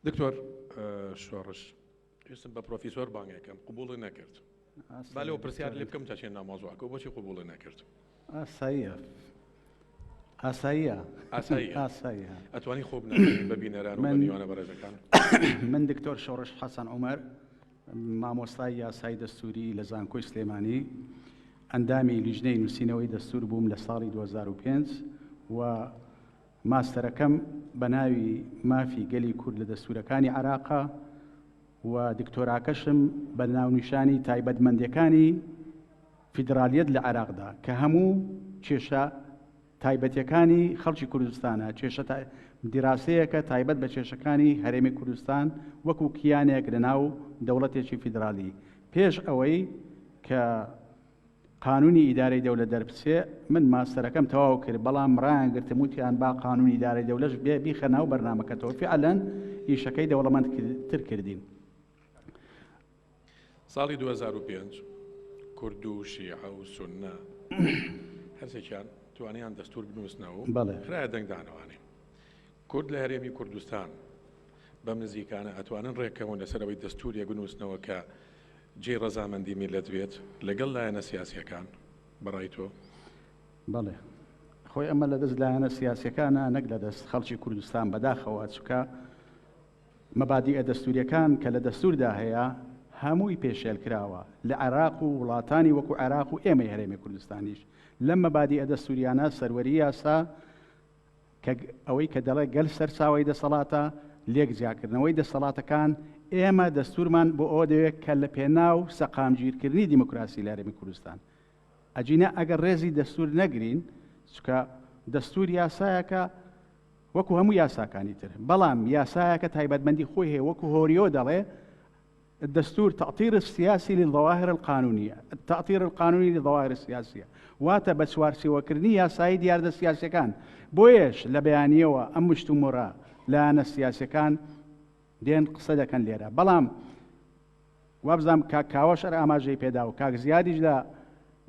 دکتۆر شۆڕش پێستم بە پرۆفیسۆر بانگەکەم قوبوڵی نەکرد با لەو پرسیار لێ بکەم تاچێن نامۆزوعکە بۆچی قوبوڵی نەکرد ئاساییە ئاساییە ئاسایی ئەتوانی خۆ بە بینەران منیوانە بەڕێزەکان من دکتۆر شۆڕش حەسەن عمر مامۆستای یاسای دەستوری لە زانکۆی سلێمانی ئەندامی لیژنەی نووسینەوەی دەستور بووم لە ساڵی 2005 و ماستەرەکەم بە ناوی مافی گەلی کورد لە دەستوورەکانی عێراقە و دکتۆراکەشم بە ناونیشانی تایبەتمەندیەکانی فیدرالیەت لە عێراقدا کە هەموو کێشە تایبەتەکانی خەڵکی کوردستانە کێشە دیراسەیەکە تایبەت بە کێشەکانی هەرێمی کوردستان وەکو کیانێک لە ناو دەوڵەتێکی فیدرالی پێش ئەوەی کە قانونی ئیدارەی دەولە دەربچێ من ماستەرەکەم تەواو کرد بەڵام ڕایان گرتم وتیان با قانونی ئیدارەی دەولەش بێ بیخە ناو بەرنامەکەتەوە فعلا ئیشەکەی دەوڵەمەند تر کردین ساڵی 2005 کورد و شیعە و سنە هەرسێکیان توانیان دەستور بنووسنەوە بەڵێ خراە دەنگدانەوانێ کورد لە هەرێمی کوردستان بەم نزیکانە ئەتوانن ڕێککەون لەسەر ئەوەی دەستوورێک بنووسنەوە کە جێی ڕەزامەندی میللەت بێت لەگەڵ لایەنە سیاسییەکان، بەڕای تۆ؟ بەڵێ. خۆی ئەمە لە دەست لایەنە سیاسییەکانە نەک لە دەست خەڵکی کوردستان بەداخەوە، چونکە مەبادیئە دەستوورییەکان کە لە دەستووردا هەیە هەمووی پێشێل کراوە لە عێراق و وڵاتانی وەکو عێراق و ئێمەی هەرێمی کوردستانیش لەم مەبادیئە دەستووریانە سەروەری یاسا کە ئەوەی کە دەڵێ گەل سەرچاوەی دەسەڵاتە، لێک جیاکردنەوەی دەسەڵاتەکان، ئێمە دەستورمان بۆ ئەوە دەوێت کە لە پێناو سەقامگیرکردنی دیموکراسی لە هەرێمی کوردستان، ئەگینا ئەگەر ڕێزی دەستور نەگرین، چونکە دەستور یاسایەکە وەکو هەموو یاساکانی تر، بەڵام یاسایەکە تایبەتمەندی خۆی هەیە، وەکو هۆریۆ دەڵێ، الدستور تاطیر السیاسی للظواهر القانونیە التاطیر القانونی للظواهر السیاسیە واتە بە چوارچێوەکردنی یاسایی دیاردە سیاسەکان بۆیەش لە بەیانیەوە ئەم مشتومڕە لایەنە سیاسەکان دێن قسە دەکەن لێرە بەڵام وابزانام کاک کاوەش هەر ئاماژەی پێدا و کاک زیادیش لە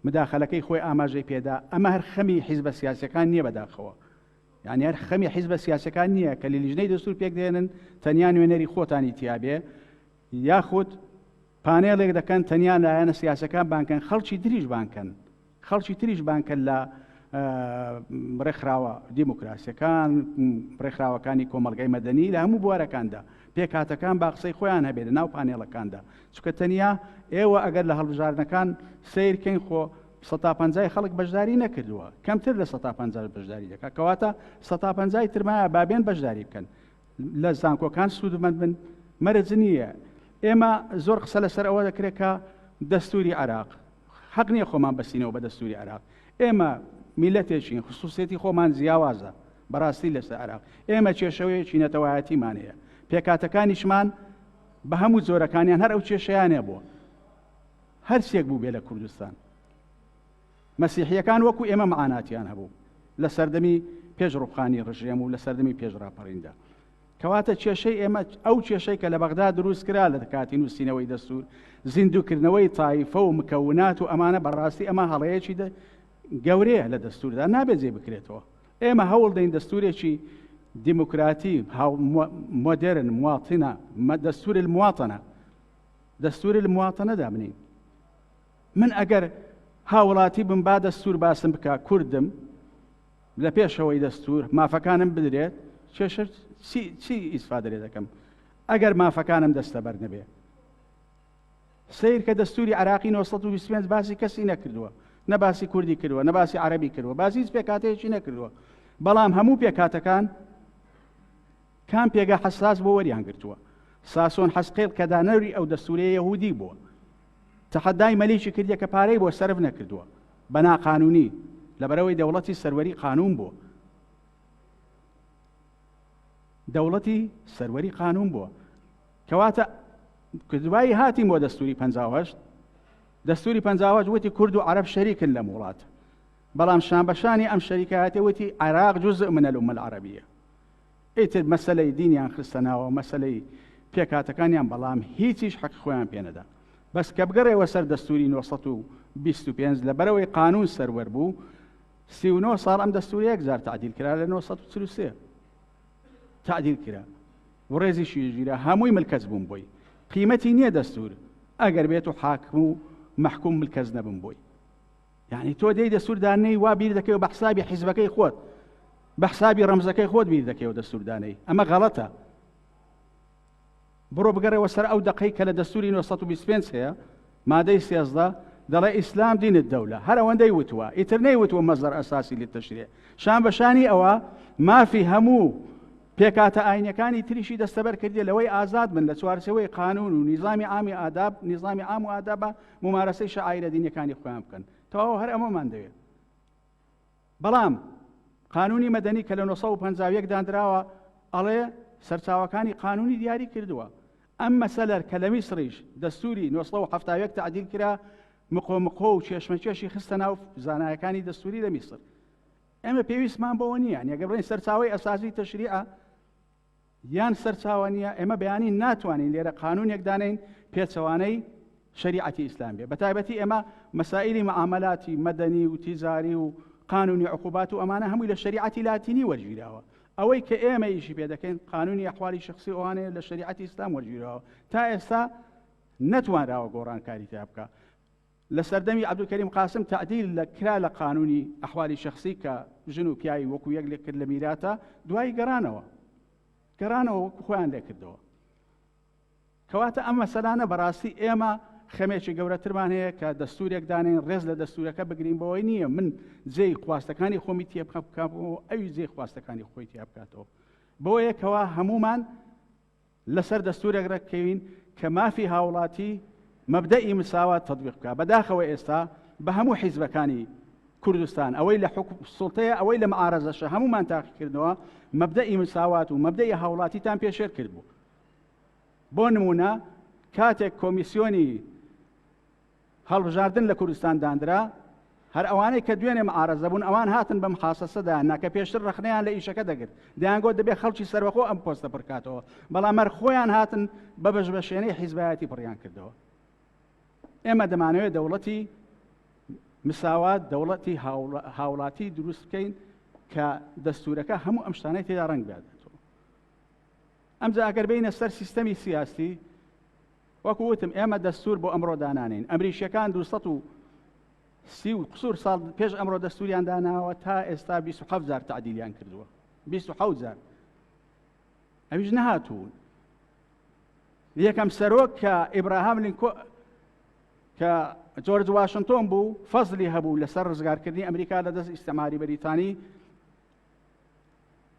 مداخلەکەی خۆی ئاماژەی پێدا ئەمە هەر خەمی حیزبە سیاسەکان نییە بەداخەوە یانی هەر خەمی حیزبە سیاسەکان نییە کە لە لیژنەی دەستور پێک دێنن تەنیا نوێنەری خۆتانی تیاابێ یاخود پانێڵێک دەکەن تەنیا لایەنە سیاسەکان بانکەن خەڵکی دریژ بانکەن خەڵکی تریش بانکە لە ڕێکخراوە دیموکراسیەکان ڕێکخراوەکانی کۆمەلگای مەدەنی لە هەموو بوارەکاندا پێکاتەکان با قسەی خۆیان هەبێت لە ناو پانێڵەکاندا چکە تەنیا ئێوە ئەگەر لە هەڵبژاردنەکان سیرکەین خۆ سەتا پەنجای خەڵک بەشداری نەکردووە کەمتر لە سەتا پەنجا بەشداری دەکات کەواتە سەتا پەنجای ترمایە بابێن بەشداری بکەن لە زانکۆکان سوودمەند بن مەرج نییە ئێمە زۆر قسە لەسەر ئەوە دەکرێت کە دەستوری عراق حەق نییە خۆمان بەسینەوە بە دەستوری عراق ئێمە میلەتێکین خصوصێتی خۆمان جیاوازە بەڕاستی لەسەر عراق ئێمە کێشەوەیەکی نەتەوایەتیمان هەیە پێکاتەکانیشمان بە هەموو جۆرەکانیان هەر ئەو کێشیانە بووە هەرچێک بووبێ لە کوردستان مەسیحییەکان وەکو ئێمە مەعاناتیان هەبوو لە سەردەمی پێش ڕوخانی ڕژێم و لە سەردەمی پێش ڕاپەڕیندا کەواتە کێشەی ئێمە ئەو کێشەی کە لە بەغدا دروست کرا لە کاتی نووسینەوەی دەستور زیندوکردنەوەی تایفە و مکەونات و ئەمانە بەڕاستی ئەمە هەڵەیەکی گەورەیە لە دەستوردا نابێت جێ بکرێتەوە ئێمە هەوڵ دەین دەستورێکی دیموکراتی مۆدرن مواتنە دەستور المواتنە دەستوری المواطنە دابنین من ئەگەر هاوڵاتی بم با دەستور باسم بکە کوردم لە پێشەوەی دەستور مافەکانم بدرێت کێشە چی ئیسفادرێ دەکەم ئەگەر مافەکانم دەستە بەر نەبێ سیر کە دەستوری عراقی 1920 باسی کەسی نەکردووە نە باسی کوردی کردووە نە باسی عربی کردووە باسی هیچ پێکاتەیەکی نەکردووە بەڵام هەموو پێکاتەکان کام پێگە حەساس بۆ وەریان گرتووە؟ ساسۆن حەسقێل کە دانەری ئەو دەستورەیە یەهودی بووە تەحەدای مەلیکی کردە کە پارەی بۆ سەرف نەکردووە بە ناقانونی لەبەرەوەی دەوڵەتی سەروەری قانون بووە دەوڵەتی سەروەری قانون بووە کەواتە دوایی هاتیم بۆ دەستوری پهشت دەستوری پهشت وتی کورد و عرب شەریکن لەم وڵات بەڵام شان بەشانی ئەم شەریکایەتی وتی عراق جزء من الأمە العربیە ئیتر مەسەلەی دینیان خستە ناوەو مەسەلەی پێکهاتەکانیان بەڵام هیچیش حەقی خۆیان پێ نەدا بەس کە بگەڕێوە سەر دەستوری نۆ سەد و بیست و پێنج لە بەرەوەی قانون سەروەر بوو سی و نۆ ساڵ ئەم دەستوری یەک جار تعدیل کرا لە نۆ سەد و چل و سێ تعدیل کرا وڕێزی شیژیرە هەمووی ملکەچ بووم بۆی قیمەتی نییە دەستور ئەگەر بێت و حاکم و مەحکوم ملکەچ نەبم بۆی یعنی تۆ دێی دەستوردانەی وا بیر دەکەوە بە حسابی حیزبەکەی خۆت بە حسابی ڕەمزەکەی خۆت بیر دەکەوە دەستوردانەی ئەمە غەڵەتە بڕۆ بگەڕەوە سەر ئەو دقەی کە لە دەستوری 1925 هەیە مادەی سێزدە دەڵێ ئیسلام دینت دەولە هەر ئەوەندەی وتووە ئیتر نەی وتوە مەزەر ئەساسی لێ تەشرێ شان بەشانی ئەوە مافی هەموو پێکاتە ئاینەکانی تریشی دەستەبەر کردی لەوەی ئازاد بن لە چوارچەوەی قانون و نیزامی ئامی ئاداب نیزامی ئام و ئادابە مومارەسەی شعائرە دینیەکانی خۆیان بکەن تەواو هەر ئەمەمان دەوێت بەڵام قانونی مەدەنی کە لە 1950 دانراوە ئەڵێ سەرچاوەکانی قانونی دیاری کردووە ئەم مەسەلەر کە لە میسریش دەستوری 1970 تعدیل کرا مقۆمقۆ و چێشمەکێشی خستە ناو زانایەکانی دەستوری لە میسر ئێمە پێویستمان بەوە نییە نیەگە بڵێن سەرچاوی ئەسازی تەشریعە یان سەرچاوە نییە، ئێمە بەیانی ناتوانین لێرە قانوونێک دانێین پێچەوانەی شەریعەتی ئیسلام بێ، بەتایبەتی ئێمە مەسائیلی مەعامەلاتی مەدەنی و تیجاری و قانوونی عقوبات و ئەمانە هەمووی لە شەریعەتی لاتینی وەرگیراوە، ئەوەی کە ئێمە ئیشی پێ دەکەین قانوونی ئەحوالی شخصی ئەوانەیە لە شەریعەتی ئیسلام وەرگیراوە، تا ئێستا نەتوانراوە گۆڕانکاری تیا بکا. لە سەردەمی عەبدولکەریم قاسم تەعدیل لە کرا لە قانوونی ئەحوالی شەخسی کە ژن و پیاوی وەکوو یەک لێک کرد لە میراتا، دوایی گەڕانەوە. گەڕانەوە وەکوو خۆیان لێ کردەوە. کەواتە ئەم مەسەلانە بەڕاستی ئێمە خەمێکی گەورەترمان هەیە کە دەستوورێک دانێن ڕێز لە دەستوورەکە بگرین بەوەی نییە من جێی خواستەکانی خۆمی تێ بخە بکەم و ئەوی جێی خواستەکانی خۆی تیا بکاتەوە. بەوەیە کەوا هەمومان لەسەر دەستورێک رێککەوین کە مافی هاوڵاتی مەبدەئی مساوات تەتبیق بکات، بەداخەوە ئێستا بە هەموو حیزبەکانی کوردستان ئەوەی لە سوڵتەیە ئەوەی لە معارەزەشە هەموومان تاقیکردنەوە مەبدەئی مساوات و مەبدەئی هاوڵاتیتان پێشێل کردبوو بۆ نمونە کاتێک کۆمیسیۆنی هەڵبژاردن لە کوردستان داندرا، هەر ئەوانەی کە دوێنێ معارەزە بوون ئەوان هاتن بەم حاسەسەدا هەنا کە پێشتر ڕەخنەیان لە ئیشەکە دەگرت، دەیانگۆت دەبێت خەڵکی سەربەخۆ ئەم پۆستە پڕکاتەوە، بەڵام هەر خۆیان هاتن بە بەشبەشێنەی حیزبایەتی پڕیان کردەوە. ئێمە دەمانەوێت دەوڵەتی مساوات دەوڵەتی هاوڵاتی دروست بکەین کە دەستورەکە هەموو ئەم شتانەی تێدا ڕنگ بێت ئەمجا ئەگەر بینە سەر سیستەمی سیاستی وەکو وتم ئێمە دەستور بۆ ئەمڕۆ دانانین ئەمریکیەکان دو سەد و سی و قسور ساڵ پێش ئەمڕۆ دەستوریان داناوە تا ئێستا 27 جار تعدیلیان کردووە 27 جار ئەویش نەهاتوون یەکەم سەرۆک کە ئیبراهام لینکۆ کە جۆرج واشنتۆن بوو فەزلی هەبوو لەسەر ڕزگارکردنی ئەمریکا لە دەست ئیسەماری بەریتانی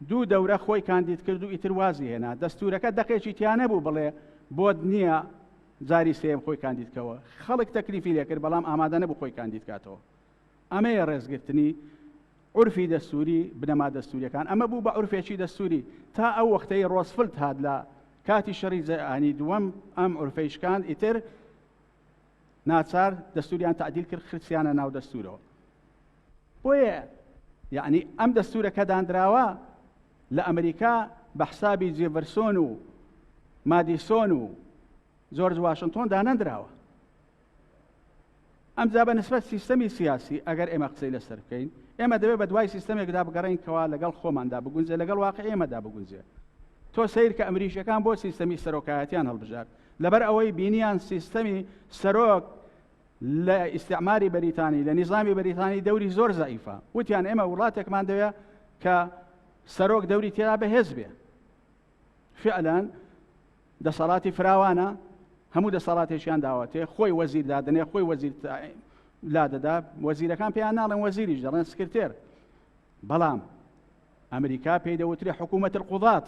دوو دەورە خۆی کاندید کرد و ئیتر وازی هێنا دەستورەکە دەقێکی تیا نەبوو بڵێ بۆت نییە جاری سێم خۆی کاندیدکەوە خەڵک تەکلیفی لێکرد بەڵام ئامادە نەبوو خۆی کاندید کاتەوە ئەمەیە ڕێزگرتنی عرفی دەستوری بنەما دەستوریەکان ئەمە بوو بە عرفێکی دەستوری تا ئەو وەختەی ڕۆسفلت هاات لە کاتی شەڕی زەیانی دووەم ئەم عرفەیشکان ئیتر ناچار دەستوریان تعدیل کرد خرسیانە ناو دەستورەوە بۆیە یعنی ئەم دەستورە کە دانراوە لە ئەمریکا بە حسابی جێڤەرسۆن و مادیسۆن و جۆرج واشنتۆن دانەندراوە ئەم جا بە نسبەت سیستەمی سیاسی ئەگەر ئێمە قسەی لەسەر بکەین ئێمە دەبێت بە دوای سیستەمێکدا بگەڕین کەوا لەگەڵ خۆماندا بگونجێ لەگەڵ واقع ئێمەدا بگونجێ تۆ سیر کە ئەمریشەکان بۆ سیستەمی سەرۆکایەتیان هەڵبژار لەبەر ئەوەی بینیان سیستەمی سەرۆک لە ئیسعماری بەریتانی لە نیزامی بەریتانی دەوری زۆر زعیفە وتیان ئێمە وڵاتێکمان دەوێ کە سەرۆک دەوری تێدا بەهێز بێ فعلەن دەسەڵاتی فراوانە هەموو دەسەڵاتێکیان داوەتێ خۆی وەزیر دادنێ خۆی وەزیر لا دەدا وەزیرەکان پێیان ناڵێن وەزیریش دەڵێن سکرتێر بەڵام ئەمریکا پێی دەوترێ حکوومەتر قوڵات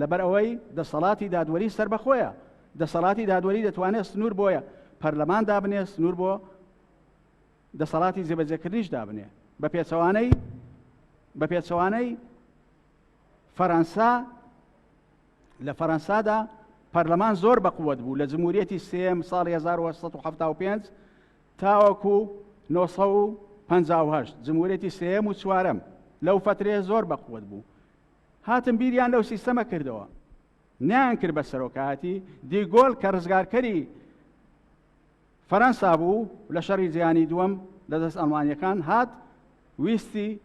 لەبەر ئەوەی دەسەڵاتی دادوەری سەربەخۆیە، دەسەڵاتی دادوەری دەتوانێت سنوور بۆ پەرلەمان دابنێت، سنوور بۆ دەسەڵاتی جێبەجێکردنیش دابنێ بە پێچەوانەی بە پێچەوانەی فەرەنسا لە فەرەنسادا پەرلەمان زۆر بەقوت بوو لە جمهوریەتی سێم ساڵی 1975 تاوەکو 1950 جمهورەتی سێم و چوارم لەو فترێ زۆر بەقوت بوو هاتن بیریان لەو سیستەمە کردەوە نیان کرد بە سەرۆکایەتی دیگۆل کە ڕزگارکەری فەرەنسا بوو لە شەڕی جیانی دووەم لە دەست ئەڵمانیەکان هات ویستی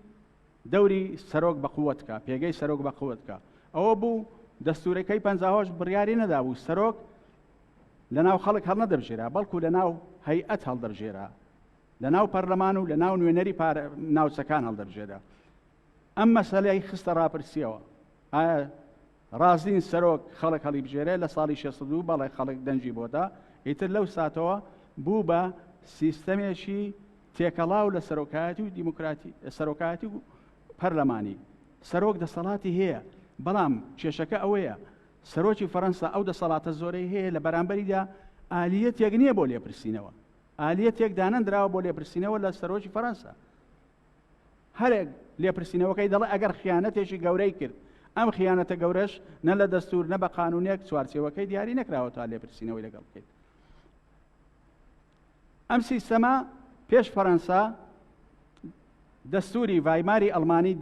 دەوری سەرۆک بە قوتکە پێگەی سەرۆک بە قوتکە ئەوە بوو دەستورەکەی پەنجاهۆش بڕیاری نەدابوو سەرۆک لە ناو خەڵک هەڵ نەدەبژێرا بەڵکو لە ناو هەیئەت هەڵدەبژێرا لە ناو پەرلەمان و لە ناو نوێنەری ناوچەکان هەڵدەبژێرا ئەم مەسەلەی خستە ڕاپرسیەوە ئایا ڕازین سەرۆک خەڵک هەڵی بژێرێ لە ساڵی 62 بەڵێ خەڵک دەنجی بۆدا ئیتر لەو ساتەوە بوو بە سیستەمێکی تێکەڵاو لە سەرۆکایەتی و دیموکراتی سەرۆکایەتی و پەرلەمانی سەرۆک دەسەڵاتی هەیە بەڵام کێشەکە ئەوەیە سەرۆکی فەەنسا ئەو دەسەڵاتە زۆرەی هەیە لە بەرامبەریدا ئالیەتێک نییە بۆ لێپرسینەوە ئالیەتێک دانەندراوە بۆ لێپرسینەوە لە سەرۆکی فەەنسا هەرێک لێپرسینەوەکەی دەڵێ ئەگەر خیانەتێکی گەورەی کرد ئەم خیانەتە گەورەش نە لە دەستور نە بە قانونێک چوارچێوەکەی دیاری نەکراوە تا لێپرسینەوەی لەگەڵ بکەیت ئەم سیستەما پێش فەەنسا دەستوری ڤایماری ئەلمانی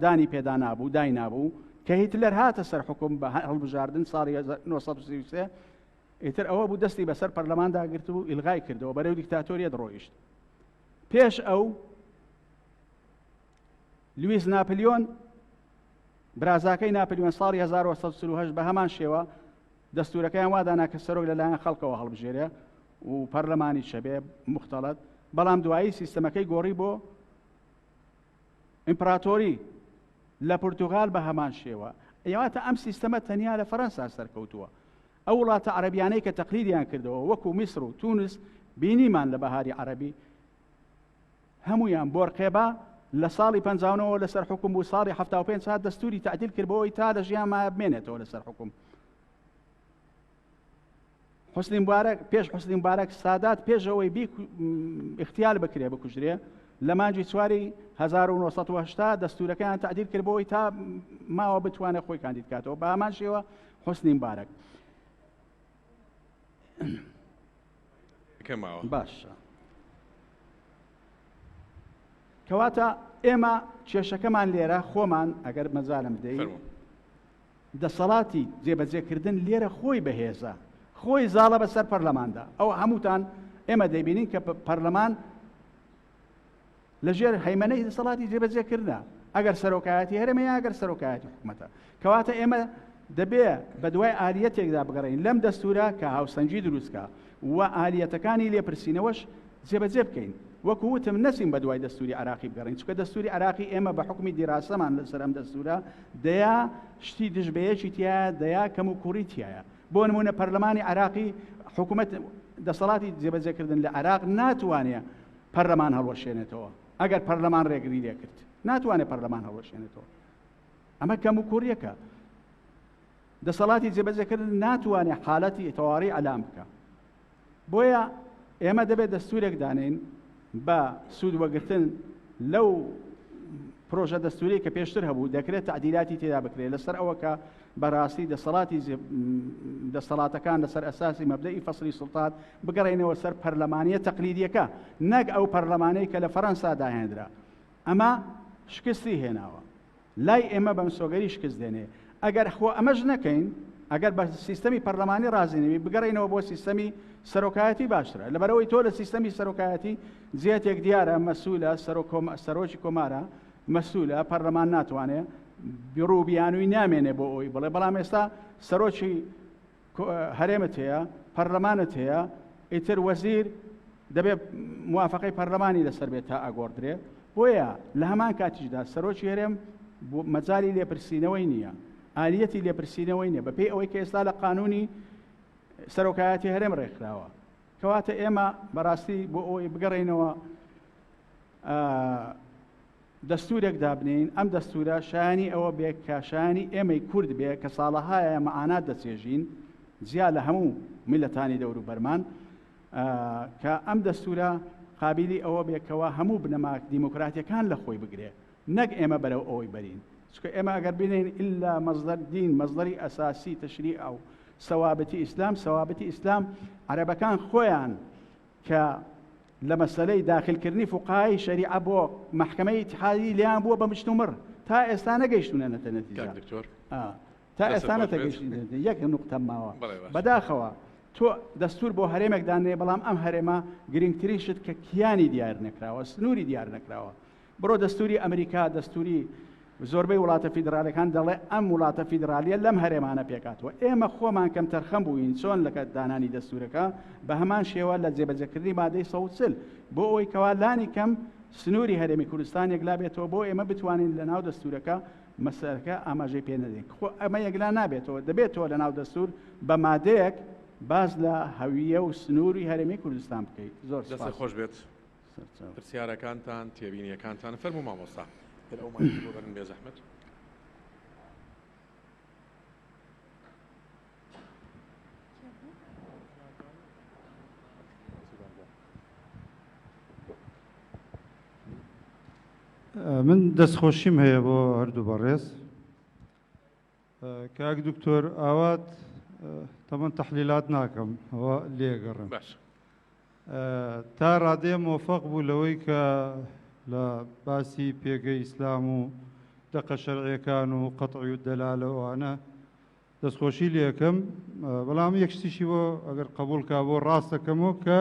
دانی پێدا نابوو دای نابوو کە هیتلەر هاتە سەر حکوم بە هەڵبژاردن ساڵی 1933 ئیتر ئەوە بوو دەستی بەسەر پەرلەماندا گرت و ئیلغای کردەوە بەرەو دیکتاتۆریە دڕۆیشت پێش ئەو لویس ناپلیۆن برازاکەی ناپلیۆن ساڵی 1940 بە هەمان شێوە دەستورەکەیان وادانا کە سەرۆک لەلایەن خەڵکەوە هەڵبژێرێ و پەرلەمانی شەبێ مختلت بەڵام دوایی سیستەمەکەی گۆڕی بۆ ئیمپراتۆری لە پرتغال بە هەمان شێوە ئەواتە ئەم سیستەمە تەنیا لە فەەنسا سەرکەوتووە ئەو وڵاتە عەرەبیانەی کە تەقلیدیان کردەوە وەکو میسر و تونس بینیمان لە بەهاری عەرەبی هەمویان بۆرقێبا لە ساڵی پنجاونەوە لەسەر حکوم بوو ساڵی هەفتا و پێنج ساعت دەستوری تعدیل کردبەوەی تا لە ژیان مایە بمێنێتەوە لەسەر حکوم حسنی مبارەک پێش حسنی مبارەک سادات پێشەوەی بی اختیال بکرێ بکوژرێ لە مانجی چواری 1970 دەستورەکەیان تعدیل کردبەوەی تا ماوە بتوانێت خۆی کاندیدکاتەوە بامان شێوە حسنی مبارەک کەماوە باشە کەواتە ئێمە کێشەکەمان لێرە خۆمان ئەگەر مەزانم بدەین دەسەڵاتی جێبەجێکردن لێرە خۆی بەهێزە خۆی زاڵە بەسەر پەرلەماندا ئەو هەمووتان ئێمە دەبینین کە پەرلەمان لە ژێر هەیمەنەی دەسەڵاتی جێبەجێکردە ئەگەر سەرۆکایەتی هەرمە یا ئەگەر سەرۆکایەتی حکوومەتە کەواتە ئێمە دەبێ بە دوای ئالیەتێکدا بگەڕین لەم دەستورە کە هاوسەنگی دروستکە و ئالیەتەکانی لێپرسینەوەش جێبەجێ بکەین وەکو وتم نەسیم بە دوای دەستوری عراقی بگەڕین چکە دەستوری عراقی ئێمە بە حکومی دیراسەمان لەسەر ئەم دەستورە دەیا شتی دژبەیەکی تایە دەیا کەم و کوڕی تایە بۆ نموونە پەرلەمانی عێراقی حکوومەت دەسەڵاتی جێبەجێکردن لە عێراق ناتوانێت پەرلەمان هەڵوەشێنێتەوە ئەگەر پەرلەمان ڕێگری لێکرد ناتوانێت پەرلەمان هەڵوەشێنێتەوە ئەمە کەم و کوریەکە دەسەڵاتی جێبەجێکردن ناتوانێت حالەتی تەواڕی ئەلام بکە بۆیە ئێمە دەبێت دەستورێک دانێین بە سوود وەگرتن لەو پرۆژە دەستوری کە پێشتر هەبوو دەکرێت تعدیلاتی تێدا بکرێت لەسەر ئەوە کە بەڕاستی دەسەڵاتی دەسەڵاتەکان لەسەر ئەساسی مەبدەی فەسری سلتات بگەڕێنەوە سەر پەرلەمانە تەقلیدیەکە نەک ئەو پەرلەمانەی کە لە فەەنسا داهێنرا ئەمە شکستی هێناوە لای ئێمە بە مسۆگەری شکست دێنێ. ئەگەر خۆ ئەمەش نەکەین، ئەگەر بە سیستەمی پەرلەمانی ڕازی نەبین، بگەڕێینەوە بۆ سیستەمی سەرۆکایەتی باشترە. لەبەرئەوەی تۆ لە سیستەمی سەرۆکایەتی جێتێک دیارە مەسولە، سەرۆکی کۆمارە مەسولە، پەرلەمان ناتوانێ بڕو بیانووی نامێنێ بۆ ئەوەی بڵێ، بەڵام ئێستا سەرۆکی، هەرێمت هەیە پەرلەمانت هەیە ئیتر وەزیر دەبێت موافقەی پەرلەمانی لەسەر بێت تا ئەگۆڕدرێ بۆیە لە هەمان کاتیشدا سەرۆکی هەرێم مەجای لێپرسینەوەی نییە ئالیەتی لێپرسینەوەی نیە بەپێی ئەوەی کە ئێستا لە قانونی سەرۆکایەتی هەرێم ڕێکخراوە کەواتە ئێمە بەڕاستی بۆ ئەوەی بگەڕینەوە دەستوورێک دابنێین، ئەم دەستوورە شایانی ئەوە بێ کە شایانی ئێمەی کورد بێ کە ساڵەهایە مەعانات دەچێژین جیا لە هەموو میللەتانی دەوروبەرمان کە ئەم دەستوورە قابلی ئەوە بێ کەوا هەموو بنەما دیموکراتیەکان لە خۆی بگرێ نەک ئێمە بەرەو ئەوەی بەرین چکە ئێمە ئەگەر بینین ئللا مەزدەر دین مەزدەری ئەساسی تەشری ئەو سەوابەتی ئیسلام سەوابەتی ئیسلام عەرەبەکان خۆیان کە لە مەسەلەی داخلکردنی فوقەهای شەریعە بۆ مەحکەمەی ئیتحادی لێیان بووە بە مشتومڕ تا ئێستا نەگەیشتوونە نەتە نەتیجە کاک دکتۆر آه. تا دەستت ئێستا خۆش بێت. نەتەگەیشتوونە یەک نقطە ماوە بەڵێ باشە. بەداخەوە تۆ دەستور بۆ هەرێمێک دانێ بەڵام ئەم هەرێمە گرنگترین شت کە کیانی دیار نەکراوە سنووری دیار نەکراوە بڕۆ دەستوری ئەمریکا دەستوری زۆربەی وڵاتە فیدرالیەکان دەڵێ ئەم وڵاتە فیدرالیە لەم هەرێمانە پێکاتوە ئێمە خۆمان کەم تەرخەم بووین چۆن لەکە دانانی دەستورەکە بە هەمان شێوە لە جێبەجەکردنی مادەی سەوتسل بۆ ئەوەی کەوا لانی کەم سنووری هەرێمی کوردستان یەکلا بێتەوە بۆ ئێمە بتوانین لە ناو دەستورەکە مەسەرەکە ئاماژەی پێ نەدەین خۆ ئەمە یەکلا نابێتەوە دەبێتەوە لە ناو دەستور بە مادەیەک باز لە هەویە و سنووری هەرێمی کوردستان بکەیت زۆر خۆش بێت پرسیارەکانتان تێبینیەکانتان فەرموو مامۆستا هەر ئەو مایکە بۆ بەرن بێزەحمەت من دەستخۆشیم هەیە بۆ هەردوو بەڕێز کاک دکتۆر ئاوات تەمەن تەحلیلات ناکەم ئەوە لێگەڕم تا ڕادێ مۆفەق بوو لەوەی کە لە باسی پێگەی ئیسلام و دەقە شەرعەکان و قەتعی و دەلالەوانە دەستخۆشی لەکەم بەڵام یەکشتیشی بۆ ئەگەر قبولکە بۆ ڕاستەکەمەوە کە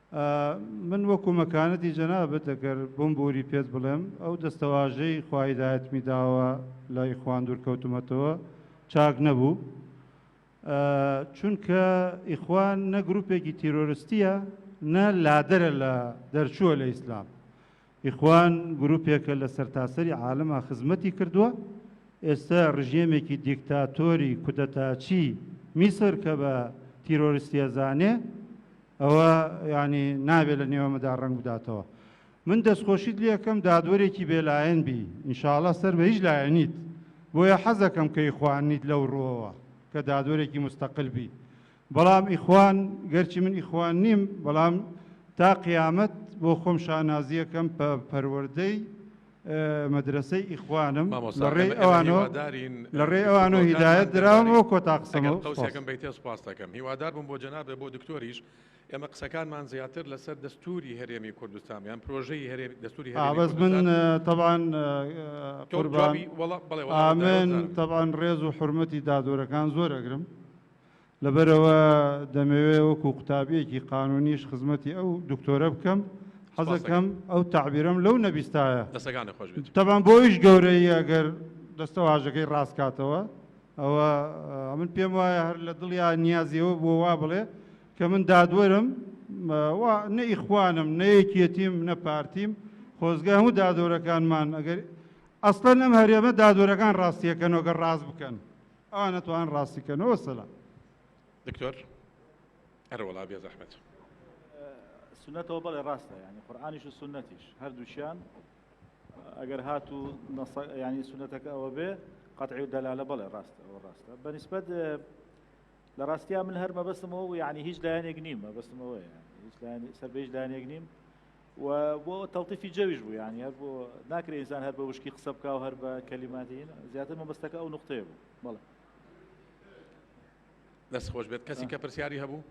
من وەکو مەکانەتی جەنابت ئەگەر بمبوری پێت بڵێم ئەو دەستەواژەی خوا هیدایەتمی داوە لە ئیخوان دوورکەوتمەتەوە چاک نەبوو چونکە ئیخوان نە گروپێکی تیرۆرستیە نە لادەرە لە دەرچووە لە ئیسلام ئیخوان گروپێکە لە سەرتاسەری عالەما خزمەتی کردوە، ئێستا رژێمێکی دیکتاتۆری کودەتاچی میسر کە بە تیرۆرستی ئەزانێ ئەوە یانی نابێ لە نێوەمەدا رەنگ بداتەوە. من دەستخۆشیت لێکەم دادوەرێکی بێلایەن بی انشااللە سەر بە هیچ لایەنیت بۆیە حەزەکەم کە ئیخوان نیت لەو روەوە کە دادوەرێکی مستقل بی بەڵام ئیخوان گەرچی من ئیخوان نیم بەڵام تا قیامەت بۆ خۆم شانازیەکەم پە پەروەردەی مەدرەسەی ئیخوانم لە ڕێی ئەوانۆ لە ڕێی ئەوانۆ هیدایەت دراوم وە کۆتا قسەمە سوپاس. ئێمە قسەکانمان زیاتر لەسەر دەستوری هەرێمی کوردستان یان پرۆژەی هەرێمی دەستوری هەبز من تەبان قوربانی وڵات بڵێ ئامن تەبان ڕێز و حرمەتی دادۆرەکان زۆر ئەگرم لەبەرئەوە دەمەوێت وەکو قوتابیەکی قانونیش خزمەتی ئەو دکتۆرە بکەم حەزەکەم ئەو تەعبیرەم لەو نەبیستایە. دەستەکانت خۆش بێت. تەبعەن بۆ ئەویش گەورەییە گەر دەستەواژەکەی ڕاست کاتەوە ئەوە ئەمن پێم وایە هەر لە دڵیا نیازی ئەوە بووە وا بڵێ کە من دادوەرم وا نە ئیخوانم نە یەکیەتیم نە پارتیم خۆزگە هەموو دادۆرەکانمان ئەگەر ئەسڵەن ئەم هەرێمە دادوەرەکان ڕاستیەکەنەوە گەر ڕاست بکەن. ئەوان ئەتوانن ڕاستی کەن و سەلام. دکتۆر ئەرە وەڵا بێ زەحمەت. سونەتەوە بەڵێ ڕاستە ینی قورآانیش و سنەتیش هەردووچیان ئەگەر هات و ینی سونەتەکە ئەوە بێ قەتعی و دەلالە بەڵێ ڕاستە ئەوە ڕاستە بەنسبەت لە ڕاستیا من هەر مەبەستمەوە و ینی هیچ لایەنێک نیم مەبەستمەوەی سەر بەیش لایەنێک نیم و بۆ تەڵتیفی جەویش بوو یانی هەر بۆ ناکرێ ئینسان هەر بە وشکی قسە بکە و هەر بە کەلیماتی زیاتر مەبەستەکە ئەو نقطەیە بوو بەڵێ دەست خۆش بێت کەسی کە پرسیاری هەبوو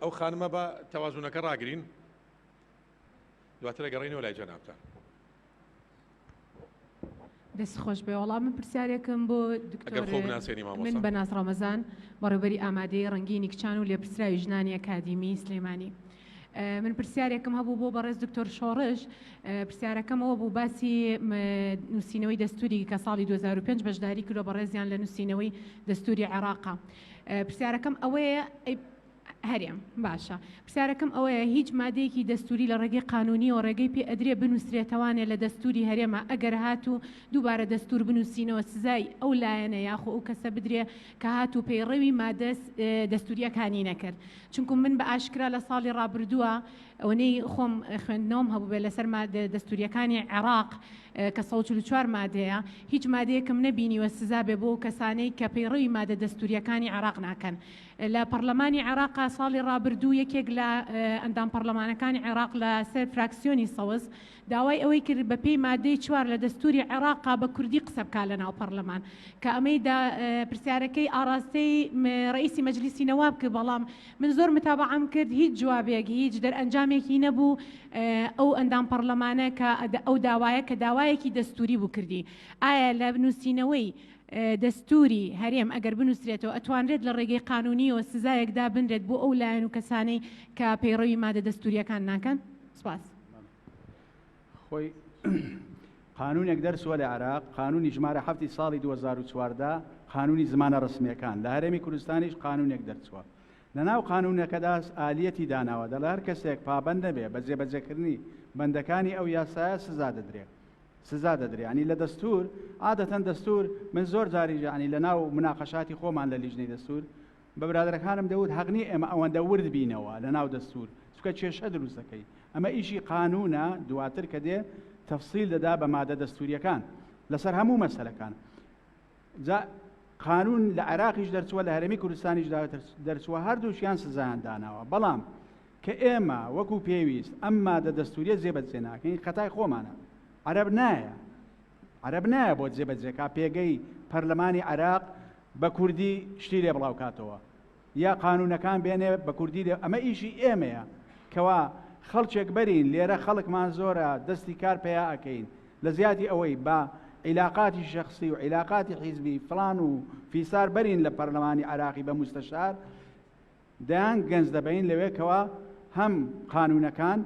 ئەو خانمە بە تەوازونەکە ڕاگرین دواترە گەڕینەوە لای جەنابتان دەست خۆش بێ وەڵام من پرسیارێکم بۆ من بە ناز ڕەمەزان بەڕێبەری ئامادەی ڕنگینی کچان و لێپرسراوی ژنانی ئەکادیمی سلێمانی. من پرسیارێکم هەبوو بۆ بەڕێز دکتۆر شۆڕش پرسیارەکەمەوە بوو باسی نووسینەوەی دەستوری کە ساڵی 2005 بەشداری کرۆ بەڕێزیان لە نووسینەوەی دەستوری عێراقا پرسیارەکەم ئەوەیە هەرێم، باشە پرسیارەکەم ئەوەیە هیچ مادەیەکی دەستووری لە ڕێگەی قانوونیەوە ڕێگەی پێ ئەدرێ بنووسرێتەوانێ لە دەستووری هەرێما ئەگەر هاتوو دووبارە دەستوور بنووسینەوە سزای ئەو لایەنە یاخۆ ئەو کەسە بدرێ کە هاتوو پەیڕەوی مادە دەستووریەکانی نەکرد چونکوم من بە ئاشکرا لە ساڵی ڕابردووە ئەوەی خۆم خوێندنەوەم هەبووێ لەسەر مادە دەستووریەکانی عێراق کە 1940 مادەیە هیچ مادەیەکم نەبینیوە سزا بێ بۆ کەسانەی کە پەیڕەوی مادە دەستووریەکانی عێراق ناکەن لە پەڕلەمانی عێڕاقا ساڵی ڕابردوو یەکێک لە ئەندام پەڕلەمانەکانی عێڕاق لە سەر فراکسیۆنی سەوز داوای ئەوەی کرد بە پێی مادەی چوار لە دەستوری عێڕاقا بە کوردی قسە بکا لە ناو پەڕلەمان کە ئەمەی دا پرسیارەکەی ئاڕاستەی ڕەئیسی مەجلیسی نەواب کرد بەڵام من زۆر متابەعەم کرد هیچ جوابێک هیچ دەرئەنجامێکی نەبوو ئەو ئەندام پەڕلەمانە کە ئەو داوایە کە داوایەکی دەستوری بوو کردی ئایا لە نووسینەوەی دەستووری هەرێم ئەگەر بنووسرێتەوە ئەتوانرێت لە ڕێگەی قانونیەوە سزایەک دابنرێت بۆ ئەو لایەن و کەسانەی کە پەیڕەوی مادە دەستووریەکان ناکەن سپاس خۆی قانونێک دەرسوە لە عراق قانونی ژمارە هەفتی ساڵی 2014 قانونی زمانە ڕسمەکان لە هەرێمی کوردستانیش قانونێک دەرچووە لە ناو قانونەکەداس ئالیەتی داناوە دەڵار کەسێک پابند نەبێ بە جێبەجەکردنی بەندەکانی ئەو یاسایە سزا دەدرێت سزا دەدرێ یانی لە دەستور عادەتەن دەستور من زۆر جاری یانی لە ناو مناقەشاتی خۆمان لە لیژنەی دەستور بە برادەکانم دەوت هەقنی ئێمە ئەوەندە ورد بینەوە لە ناو دەستور چکە کێشە دروستەکەی ئەمە ئیشی قانونە دواتر کە دێ تەفسیل دەدا بە مادە دەستوریەکان لەسەر هەموو مەسلەکان جا قانون لە عێراقیش دەرچووە لە هەرێمی کوردستانیش دەرچووە هەردووشیان سزایان داناوە بەڵام کە ئێمە وەکو پێویست ئەم مادە دەستوریە جێبەجێ ناکەین خەتای خۆمانە عەرب نایە عەرب نایە بۆ جێبەجێکا پێگەی پەرلەمانی عێراق بە کوردی شتی لێ بڵاوکاتەوە یا قانونەکان بێنێ بە کوردی لێ ئەمە ئیشی ئێمەیە کەوا خەڵکێک بەرین لێرە خەڵکمان زۆرە دەستی کار پیا ئەکەین لە زیادی ئەوەی بە عیلاقاتی شخصی و عیلاقاتی حیزبی فلان و فیسار بەرین لە پەرلەمانی عراقی بە مستەشار دەیان گەنج دەبین لەوێکەوە هەم قانونەکان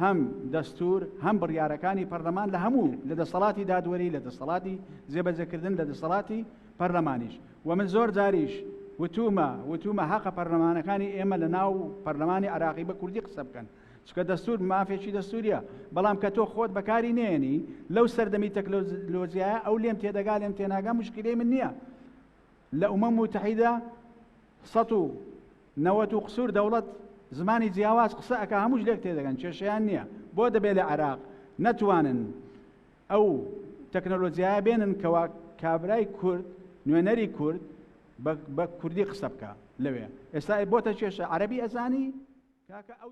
هەم دەستور هەم بڕیارەکانی پەرلەمان لە هەموو لە دەسەڵاتی دادوەری لە دەسەڵاتی جێبەجەکردن لە دەسەڵاتی پەرلەمانیش وە من زۆر جاریش وتومە وتومە هەقە پەرلەمانەکانی ئێمە لە ناو پەرلەمانی عراقی بە کوردی قسە بکەن چکە دەستور مافێکی دەستوریە بەڵام کە تۆ خۆت بەکاری نێنی لەو سەردەمی تەکلۆزیایە ئەو لێم تێدەگا لێم تێناگا مشکلی من نییە لە ئومە متحیدە سە و نەوەت و قسوور دەوڵەت زمانی جیاواز قسە ئەک هەمووش لێک تێدەگەن کێشیان نییە بۆ دەبێت لە عراق نەتوانن ئەو تەکنەلۆجیایە بێنن کەوا کابرای کورد نوێنەری کورد بە کوردی قسە بکە لەوێ ئێستا بۆتە کێشە عەربی ئەزانی کاکە ئەو